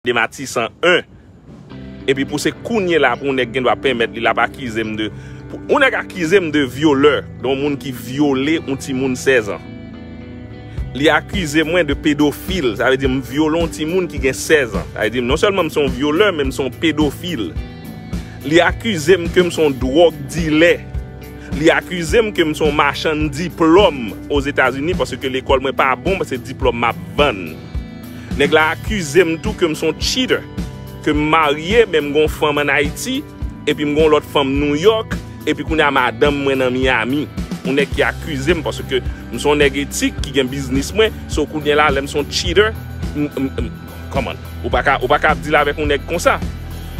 2 matisan 1 epi pou se kounye la pou yon nèg gen dwa pèmèt li lap akize m de pou yon nèg akize m de vyolè de yon moun ki vyole yon timoun 16 ans li akize mwen de pedofil sa vle di m vyole yon timoun ki gen 16 ans sa vle di m non sèlman m se yon vyolè men m se yon pedofil li akize m ke m se yon dwòg dilè li akize m ke m se yon machann diplòm ozetazini paske lekòl mwen pa bon se diplòm map vann. Nèg la akize m tou ke m son cheater, ke m marye men m gon fanm an Ayiti epi m gon lòt fanm New York epi kounye a madanm mwen nan Miami. Yon nèg ki akize m paske m son nèg etik ki gen biznis mwen, so kounye la lè m son cheater, m m come on, ou pa ka ou pa ka ap deal avèk yon nèg konsa.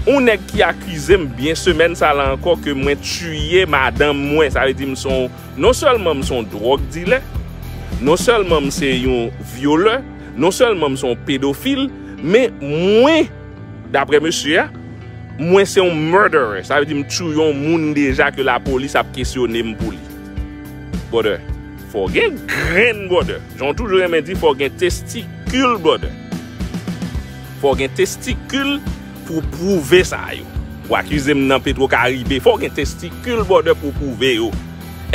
Yon nèg ki akize m byen semèn sa la ankò ke mwen tuye madanm mwen, sa vle di m son. Non sèlman m se yon dwòg dilè, non sèlman m se yon vyolè, non sèlman m se yon pedofil, men mwen, daprè mesye a, mwen se yon murderer, sa vle di m touye yon moun deja ke lapolis ap kesyone m pou li. Brother, fò w gen grenn brother, jan w toujou renmen di fò w gen testikil brother. Fò w gen testikil. Pou w pwouve sa yo. Ou akize m nan petro karibe fò w gen testikil bòdè pou w pwouve yo.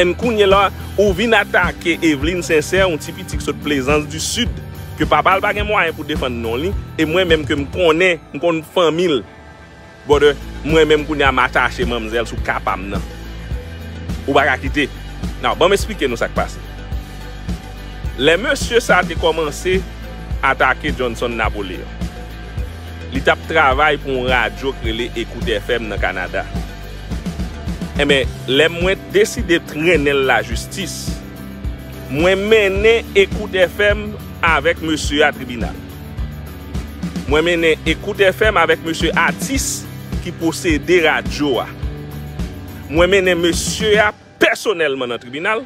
And kounye la ou vin atake Evelyne Sincère yon ti piti k sot plezans du sud ke papa l pa gen mwayen pou defann non li e mwen menm ke m konnen m konn fanmi l bòdè mwen menm kounye a m atache manmzèl sou ka pa m nan. Ou pa ka kite Now ban m esplike nou sa k pase. Lè mesye sa te kòmanse atake Johnson Napoléon. Li t ap travay pou yon radyo k rele Ecoute FM nan Kanada. Enben, lè mwen deside trennen l lajistis, mwen mennen Ecoute FM avèk mesye a tribinal. Mwen mennen Ecoute FM avèk mesye atis ki posede radyo a. Mwen mennen mesye a pèsonèlman nan tribinal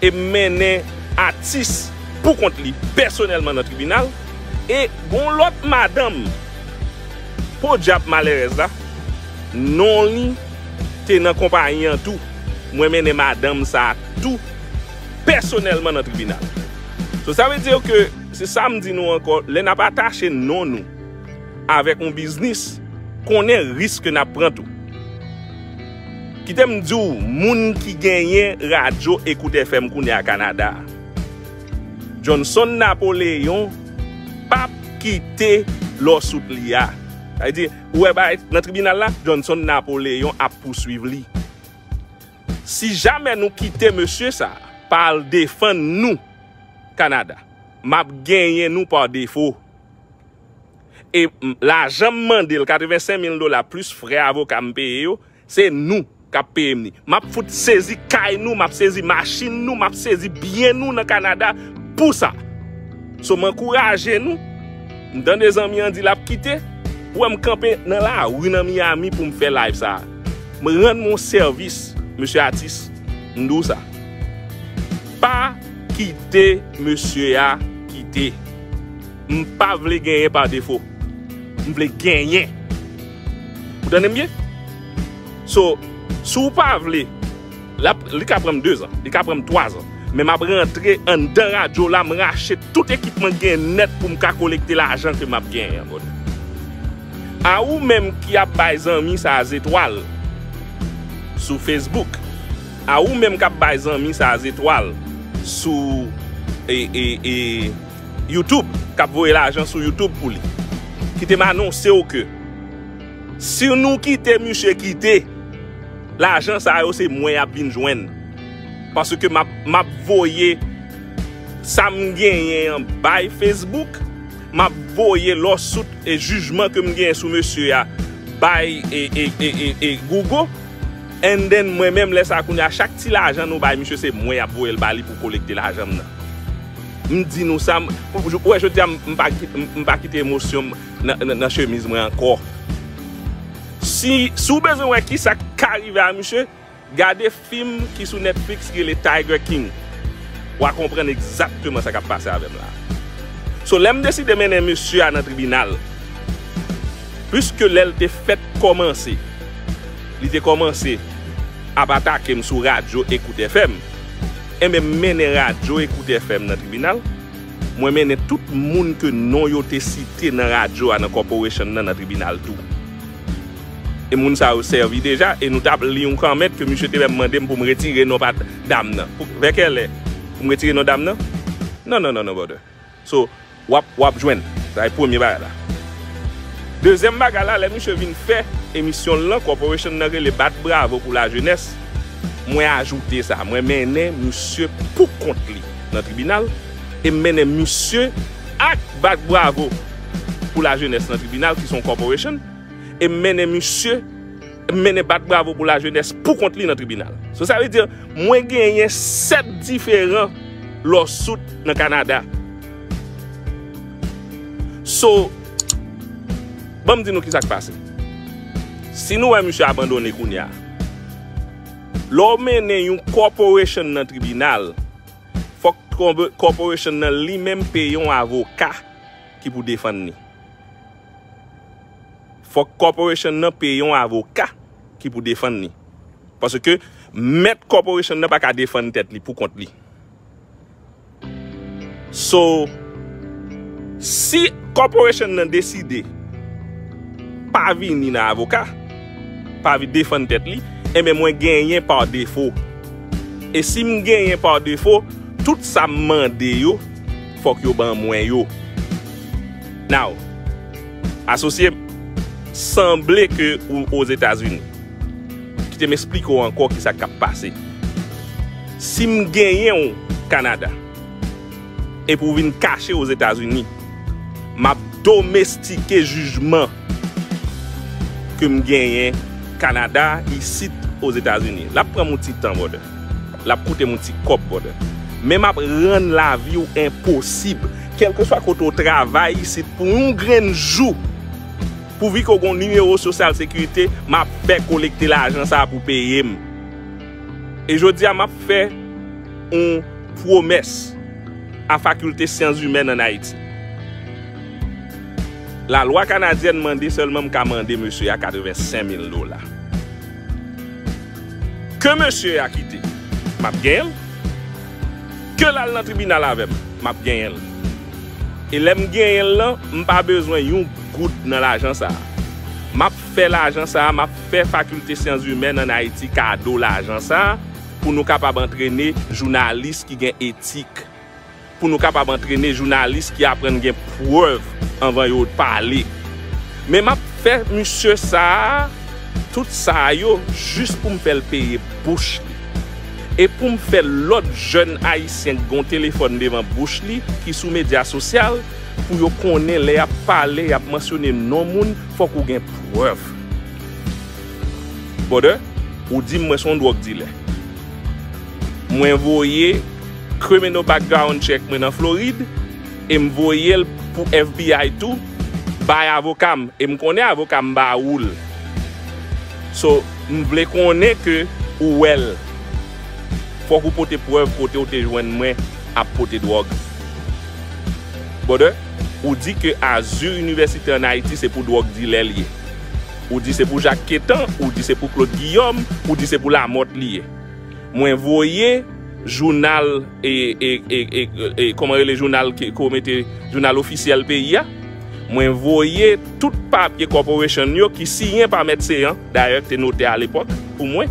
e mennen atis pou kont li pèsonèlman nan tribinal e gon lòt madanm podyab malèrèz la non li te nan konpayi an tou mwen mennen madanm sa tou pèsonèlman nan tribinal so sa vle dir ke se sa m di nou ankò lè nap atache non nou avèk yon biznis konnen risk ke nap pran tou. Kite m di w moun ki genyen radyo Ecoute FM kounye a Kanada. Johnson Napoléon pa p kite lawsuit li a. Sa vle di, ou wè bagay nan tribinal la, Johnson Napoléon ap pouswiv li. Si jamè nou kite mesye sa a pa al defann nou Kanada, m ap genyen nou pa defo. E lajan m mande l, 85 mil dola plis frè avoka m peye yo, se nou k ap peye m li. M ap fout sezi kay nou, m ap sezi machin nou, m ap sezi byen nou nan Kanada pou sa. So m ankouraje nou, m tande zanmi an di l ap kite, ou wè m kanpe nan lari nan Miami pou m fè live sa. M rann m yon sèvis, mesye atis, m di w sa. Pa kite mesye a kite. M pa vle genyen pa defo. M vle genyen. Ou tande m byen? So, si w pa vle, li ka pran m dezan, li ka pran m twazan, men m ap rantre anndan radyo la, m rache tout ekipman k genyen nèt pou m ka kolekte lajan ke m ap genyen an bòdè. A ou menm ki ap bay zanmi sa a zetwal sou Facebook, a ou menm k ap bay zanmi sa a zetwal sou e, e, e. YouTube kap voye lajan sou YouTube pou li. Kite m anonse w ke si nou kite misye kite, lajan sa yo se mwen yap vin jwenn. Paske map voye sa m genyen an bay Facebook, map voye lawsuit e jijman ke m genyen sou mesye a bay Google and then mwen menm lè sa kounye a chak ti lajan nou bay misye se mwen yap voye l ba li pou kolekte lajan m nan. M di nou sa, ou wè jodi a m pa kite emosyon m nan chemiz mwen ankò. Si ou bezwen wè kisa k ka rive a misye, gade fim ki sou Netflix ki rele Tiger King. W a konprann egzakteman sa k ap pase avè m la. So lè m deside mennen mesye a nan tribinal, piske lè l te fèk kòmanse, li te kòmanse ap atake m sou radyo Ecoute FM, Enben, m mennen radyo Ecoute FM nan tribinal. Mwen mennen tout moun ke non yo te site nan radyo a nan corporation nan nan tribinal tou. E moun sa yo sèvi deja e nou tap li yon comment ke misye te menm mande m pou m retire non pa dam nan. Vè kèlè pou m retire non dam nan? Non non non non brother. So wap wap jwenn. Sa e premye bagay la. Dezyèm bagay la lè misye vin fè emisyon l lan corporation nan rele bat bravo pou la jenès mwen ajoute sa mwen mennen misye pou kont li nan tribinal e m mennen misye ak bat bravo pou la jenès nan tribinal ki son corporation e m mennen misye mennen bat bravo pou lajenès poukont li nan tribinal. So sa vle di, mwen genyen 7 diferan lawsuit nan Kanada. So, banm di nou ki sa k pase. Si nou wè misye abandone kounye a, lè w mennen yon corporation nan tribinal, fòk corporation nan li menm peye yon avoka ki pou defann li. fòk corporation nan peye yon avoka ki pou defann li. Paske mèt corporation nan pa ka defann tèt li pou kont li. So, si corporation nan deside pa vini nan avoka, pa vini defann tèt li, enben mwen genyen par défaut. E si m genyen par défaut, tout sa m mande yo, fòk yo ban mwen yo. Now. Asosye m, sanble ke ou Ozetazini. Kite m esplike w ankò ki sa k ap pase. Si m genyen w Kanada, epi w vin kache Ozetazini, m ap domestike jijman ke m genyen Kanada isit Ozetazini. L ap pran m yon ti tan, brother. Lap koutem yon ti kob brother. Men map rann lavi w enposib. Kelke swa kote w travay isit pou yon grenn jou. Pouvi ke w gon nimewo sosyal sekirite, map fè kolekte lajan sa pou peyem. E jodi a map fè yon pwomès a fakilte syans imèn an Ayiti. La lwa kanadyèn mande selman m ka mande mesye a 85 mil dola. Ke mesye a kite, m ap genyen l. Ke l al nan tribinal avè m, m ap genyen l. E lè m genyen l lan, m pa bezwen yon goud nan lajan sa a. M ap fè lajan sa a, m ap fè Fakilte Syanzimèn ann Ayiti kado lajan sa a pou nou kapab antrene jounalis ki gen etik. pou nou kapab antrene jounalis ki aprann gen prèv anvan yo pale. Men m ap fè misye sa a tout sa a yo jis pou m fè l peye bouch li. E pou m fè lòt jèn ayisyen k gen yon telefòn devan bouch li ki sou medya sosyal pou yo konnen lè y ap pale, y ap mansyone non moun, fòk ou gen prèv. Brother, ou di m mwen s on dwòg dilè. Mwen voye Criminal background check mwen nan Florid em voyel pou FBI tou bay avokam em konnen avokam ba oul so m vle konnen ke ou wel fok ou pote prev kotew te jwenn mwen ap pote drog brother ou di ke azur universite an ayiti se pou drog dilè liye ou di se pou jak ketan ou di se pou klod giyom ou di se pou lamot liye. Mwen voye jounal ofisyèl peyi a, mwen voye tout papye Corporation yo ki siyen pa Mèt Céant, dayè ki te notè a lepòk pou mwen.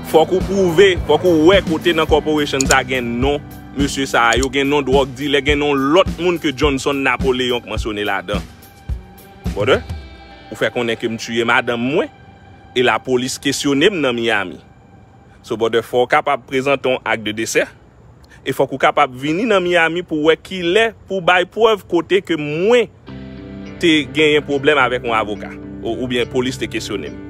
Fòk ou pwouve, fòk ou wè kote nan Corporation sa gen non mesye sa yo, gen non dwòg dilè, gen non lòt moun ke Johnson Napoléon k mansyone ladan. Brother, ou fè konnen ke m tuye madanm mwen e la polis kesyone m nan Miami. So brother fò w kapab prezante yon ak de desè e fòk ou kapab vini nan Miami pou wè kilè pou w bay prèv kote ke mwen te genyen pwoblèm avèk yon avoka oubyen polis te kesyone m.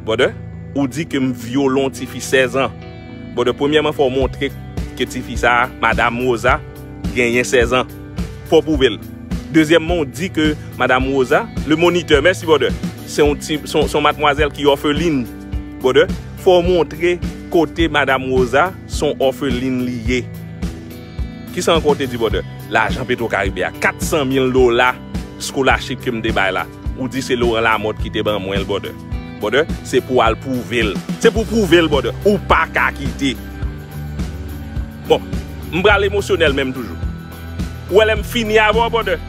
Brother, ou di ke m vyole yon ti fi 16 ans. Brother, premyèman fò w montre ke ti fi sa a, madam Rosa, genyen 16 ans. fò w pwouve l. Dezyèmman w di ke Madam Rosa, le moniteur, mèsi brother, se yon ti, se yon matmwazèl ki òfelin brother, fò w montre kote Madam Rosa se yon òfelin li ye. Kisa ankò w te di brother? Lajan Petro Caribe a, 400 mil dola scholarship ke m te bay la. Ou di se Laurent Lamothe ki te ban mwen l brother. Brother, se pou w al pwouve l. Se pou w pwouve l brother. Ou pa ka kite. Bon, m pral emosyonèl menm toujou. Ou wè lè m fini avè w brother,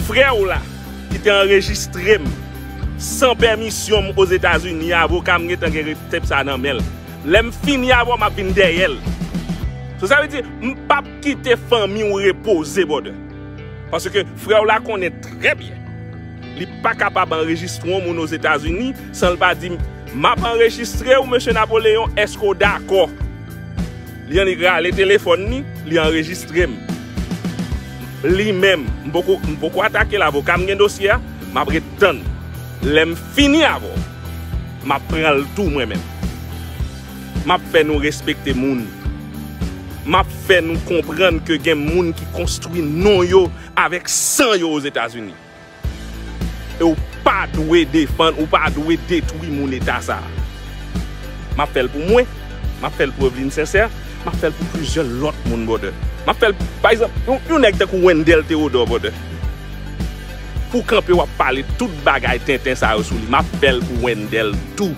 frè w la ki te anrejistre m san pèmisyon m Ozetazini a, avoka m gentan gen tep sa nan men l. Lè m fini avè w m ap vin dèyè l. So sa vle di, m p ap. Kite fanmi w repoze brother. Paske frè w la konnen trè byen li pa kapab anrejistre yon moun Ozetazini san l pa di m ap anrejistre w Mesye Napoleon eske w dakò? Li annik rale telefòn li, li anrejistre m. Li menm, m poko m poko atake l avoka m gen dosye a, m ap ret tann. Lè m fini avè w, m ap pran l tou mwen menm. M ap fè nou respekte moun. M ap fè nou konprann ke gen moun ki konstwi non yo avèk san yo Ozetazini. E ou pa dwe defann, ou pa dwe detwi moun eta sa a. M ap fè l pou mwen, m ap fè l pou Evelyne Sincère, m ap fè l pou plizyè lòt moun, brother. M ap fè l, pa egzanp, yon nèg tankou Wendell Theodore, brother. Pou w kanpe w ap pale tout bagay tenten sa yo sou li, m ap fè l pou Wendell tou.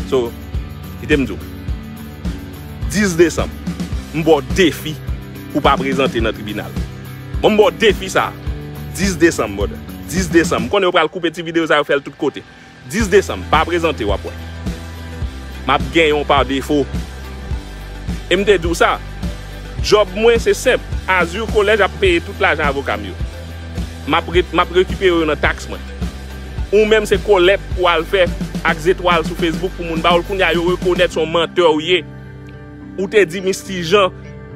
So, kite m di w. 10 desanm, m ba w defi pou w pa prezante nan tribinal. Bon, m ba w defi sa a. 10 desanm, brother. 10 desanm. M konnen yo pral koupe ti videyo sa yo fè l tout kote. 10 desanm, pa prezante w ap wè. M ap genyen w pa defo. E m te di w sa, djòb mwen se senp. Azur Collège ap peye tout lajan avoka m yo. Map rekipere yo nan tax mwen. Ou menm se kolèt ou al fè ak zetwal sou Facebook pou moun ba ou l kounya yo rekonèt son mantè ou ye. Ou te di Misty Jean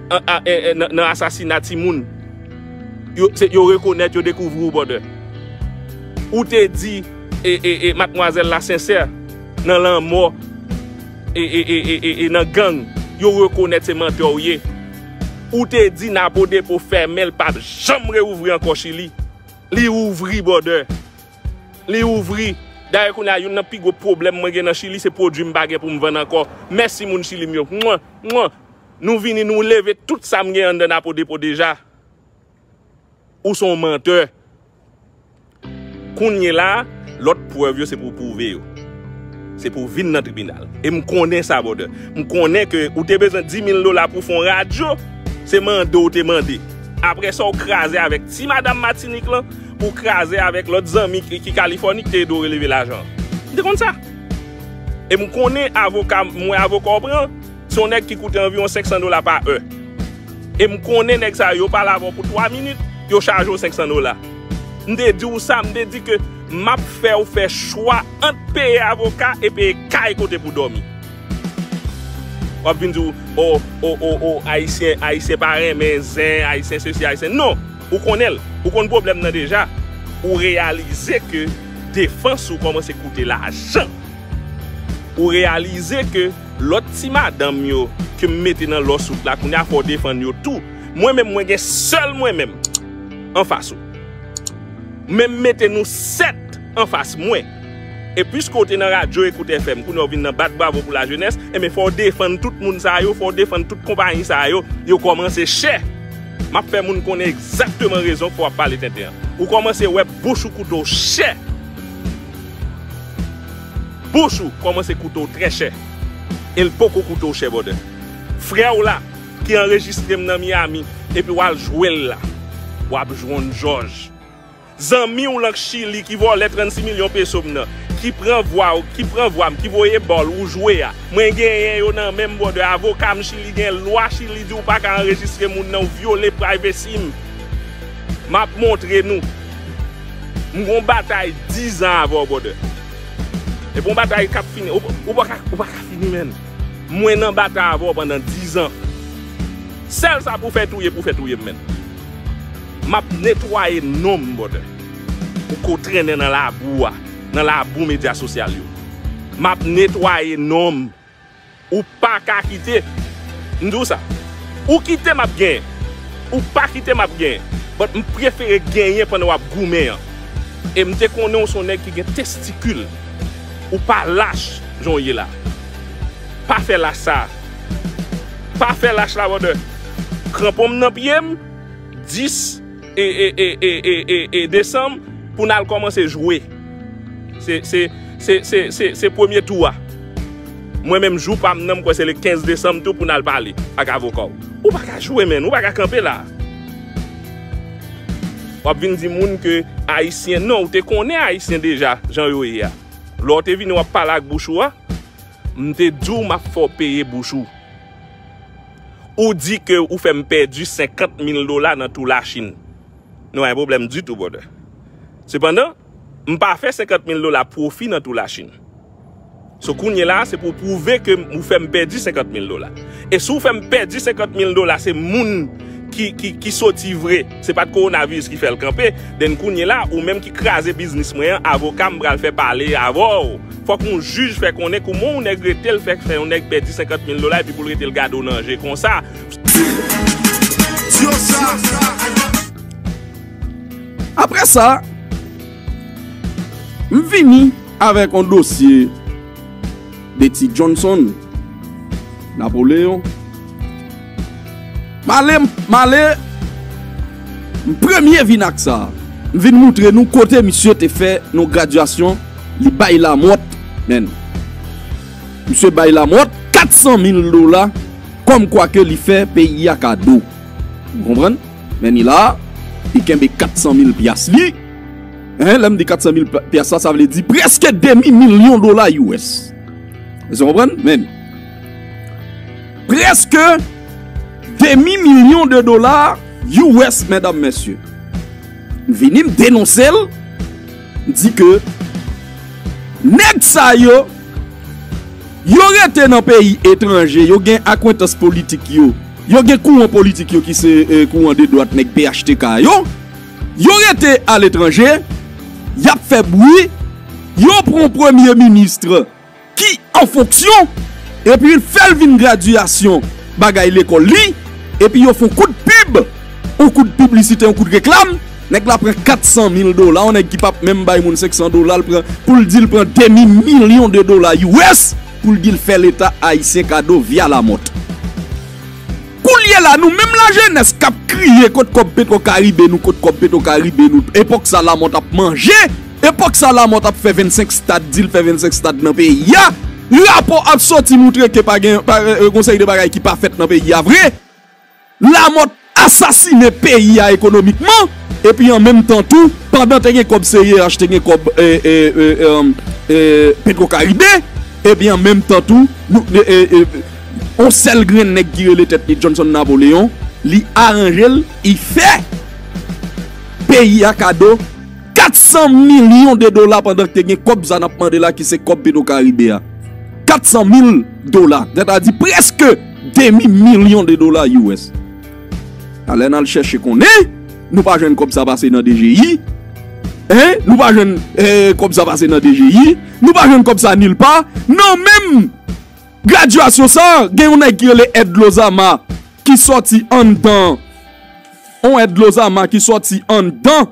nan asasina timoun. Yo rekonèt yo dekouvri ou bòdè. Ou te di matmwazèl la sensè nan lanmò e nan gang. Yo rekonèt se mantè ou ye. Ou te di napo depo fèmen l pap janm reouvri ankò chili li ouvri bòdè li ouvri dayè kounye a youn nan pi gwo pwoblèm mwen gen nan chili se pwodwi m pa gen pou m vann ankò mèsi moun chili m yo mwah mwah nou vini nou leve tout sa m gen anndan napo depo deja ou son mantè. Kounyela a, lòt prèv yo se pou w pwouve yo. Se pou w vin nan tribinal. E m konnen sa brother. M konnen ke ou te bezwen 10,000 dola pou w fè yon radyo. Se mande w te mande. Apre sa w kraze avèk ti madam Matinik lan, ou kraze avèk lòt zanmi ki Kalifòni ki te ede w releve lajan an. M te konn sa. E m konnen avoka, m wè avoka w pran. Se yon nèg ki koute anviwon 500 dola pa è. E m konnen nèg sa yo, yo pale avè w pou 3 minit, yo chaje w 500 dola. M te di w sa, m te di ke m ap fè w fè chwa ant peye avoka e peye kay kote pou dòmi. W ap vin di w, o, o, o, o, Ayisyen, Ayisyen pa renmen zen, Ayisyen sesi, Ayisyen. Non! Ou konnen l. Ou konn pwoblèm nan deja. Ou reyalize ke defans ou kòmanse koute lajan. Ou reyalize ke. Lot ti madanm yo ke m mete nan lòs wout la kounya fò w defann yo tou. Mwen menm mwen gen sèl mwen menm anfas ou. Men m mete nou 7 anfas mwen. E piske w te nan radyo Ecoute FM kounya w vin nan bat bravo pou lajenès, enben fò w defann tout moun sa yo, fò w defann tout konpayi sa yo, yo kòmanse chè. M ap fè moun konnen egzakteman rezon k fè w ap pale tenten an. Ou kòmanse wè bouch ou kouto chè. Bouch ou kòmanse koute w trè chè e l poko koute w chè bòdè. Frè w la ki anrejistre m nan Miyami epi w al jwe l la, w ap jwonn jòj. Zanmi w lan k Chili ki vòlè 36 milyon peso m nan, ki pran vwa w, ki pran vwa m, ki voye ba w ou jwe a, mwen genyen yo nan men m bòdè. Avoka m Chili gen lwa Chili di w pa ka anrejistre moun nan, w vyole privacy m. M ap montre nou. M gon batay 10 ans avè w brother. E bon batay kap fini. Ou paka ou paka fini menn. Mwen nan batay avè w pandan 10 ans. Sèl sa pou fè touye pou fè touye m menn. Map netwaye non m brother. Ou ko trennen nan labou a. Nan labou media sosyal yo. Map netwaye non m. Ou paka kite. M di w sa. Ou kite map genyen. Ou pa kite map genyen. But m prefere genyen pandan wap goumen an. E m te konnen w son nèg ki gen testikil. Ou pa lach jan w ye la. Pa fè lach sa. Pa fè lach la brother. Kranpon m nan pye m. 10. e desanm pou n al kòmanse jwe se premye tou a mwen menm jou pa m nan m kwè se le 15 desanm tou pou n al pale ak avoka w ou pa ka jwe menn ou pa ka kanpe la w ap vin di moun ke ayisyen non ou te konnen ayisyen deja jan yo ye a lò w te vini w ap pale ak bouch ou a m te di w m ap fè w peye bouch ou. Ou di ke ou fè m pèdi 50 mil dola nan tou Lachin. Nou pa gen pwoblèm ditou brother. Sepandan, m pa fè 50 mil dola pwofi nan tou Lachin. So kounye la a se pou w pwouve ke ou fè m pèdi 50 mil dola. E si w fè m pèdi 50 mil dola se moun ki soti vre. Se pat coronavirus ki fèl kanpe, then kounye la ou menm ki kraze biznis mwen an avoka m pral fè pale avèw. Fòk yon jij fè konnen kouman yon nèg retel fè k fè yon nèg pèdi 50 mil dola epi poul retel gade w nan je konsa. Aprè sa, m vini avèk yon dosye de ti Johnson Napoleon. M ale m ale M premye vin ak sa M vin moutre nou kote misye te fè yon gradyasyon li bay Lamòt men Misye bay Lamòt 400 mil dola kòm kwa ke li fè peyi a kado Ou konprann Men ni la li kenbe 400 mil pyas li Hein lè m di 400 mil pyas la sa vle di prèske demi milyon dola US Èske w konprann Men Preske demi milyon de dola US mèdam mèsye. M vini m denonse l, m di ke nèg sa yo, yo rete nan peyi etranje, yo gen akwentans politik yo, yo gen kouran politik yo ki se kouran de dwat nèg phtk yo, yo rete aletranje, y ap fè bwi, yo pran premye ministre. ki an fonksyon epi fè l vin gradyasyon bagay lekòl li epi yo fon kout pib on kout piblisite on kout reklam nèg la pran 400 mil dola on nèg ki pap menm bay moun 500 dola l pran pou l di l pran demi milyon de dola us pou l di l fè leta ayisyen kado via lamòt koulye la nou menm lajenès kap kriye kot kòb petro karibe nou kot kòb petro karibe nou epòk sa lamòt ap manje. Epòk sa Lamòt ap fè 25 stad, di l fè 25 stad nan peyi a. Rapò ap sòti moutre ke pa gen yon seri de bagay ki pa fèt nan peyi a vre. Lamòt asasine peyi a ekonomikman, epi an menm tan tou, pandan te gen kòb CIRH, te gen kòb Petrocaribe, epi an menm tan tou, yon sèl grenn nèg ki rele tèt li Johnson Napoléon, li aranje l, li fè peyi a kado. 400 milyon de dola pandan te gen kòb sa nap mande la ki se kòb petro karibe a 400 mil dola tèt a di preske demi milyon de dola us a lè nal chèche konnen nou pa jwenn kòb sa pase nan dgi hein nou pa jwenn kòb sa pase nan dgi nou pa jwenn kòb sa nil pa nan menm gradyasyon sa gen yon nèg ki rele ed lozama ki sòti anndan on ed lozama ki sòti anndan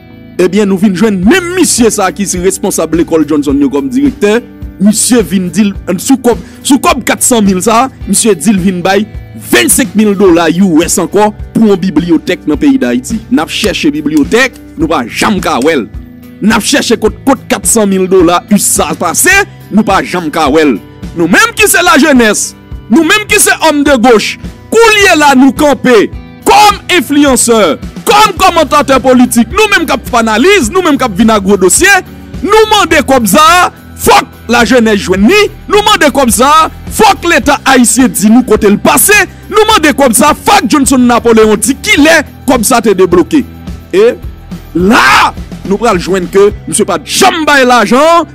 Ebyen nou vin jwenn menm misye sa ki se responsab lekòl Johnson yo kòm direktè, misye vin di l sou kòb sou kòb 400 mil sa, misye di l vin bay 25 mil dola US ankò pou yon bibliyotèk nan peyi Dayiti. N ap chèche bibliyotèk, nou pa janm ka wè l. N ap chèche kot kot 400 mil dola us sa pase, nou pa janm ka wè l. Nou menm ki se lajenès, nou menm ki se òm de goch, Koulye la nou kanpe kòm enfliyansè, kòm kòmantatè politik, nou menm k ap fanalize, nou menm k ap vin a gwo dosye, nou mande kòb sa a fòk lajenès jwenn ni, nou mande kòb sa a fòk leta ayisyen di nou kote l pase, nou mande kòb sa a fòk Johnson Napoleon di kilè kòb sa te debloke. E la a nou pral jwenn ke misye pa t janm bay lajan an.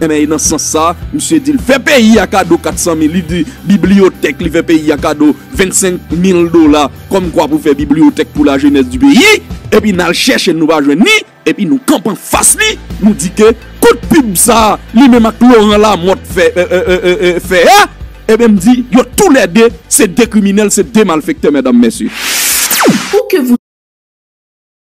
Enben e nan sans sa, misye di l fè peyi a kado 400 mil, li di bibliyotèk, li fè peyi a kado 25 mil dola kòm kwa pou fè bibliyotèk pou lajenès di peyi, epi n al chèche l nou pa jwenn li, epi nou kanpe an fas li, nou di ke kout pib sa a li menm ak Loran Lamòt fè fè a, enben m di yo tou lè 2 se 2 kriminèl, se 2 malfèktè mèdam mèsye.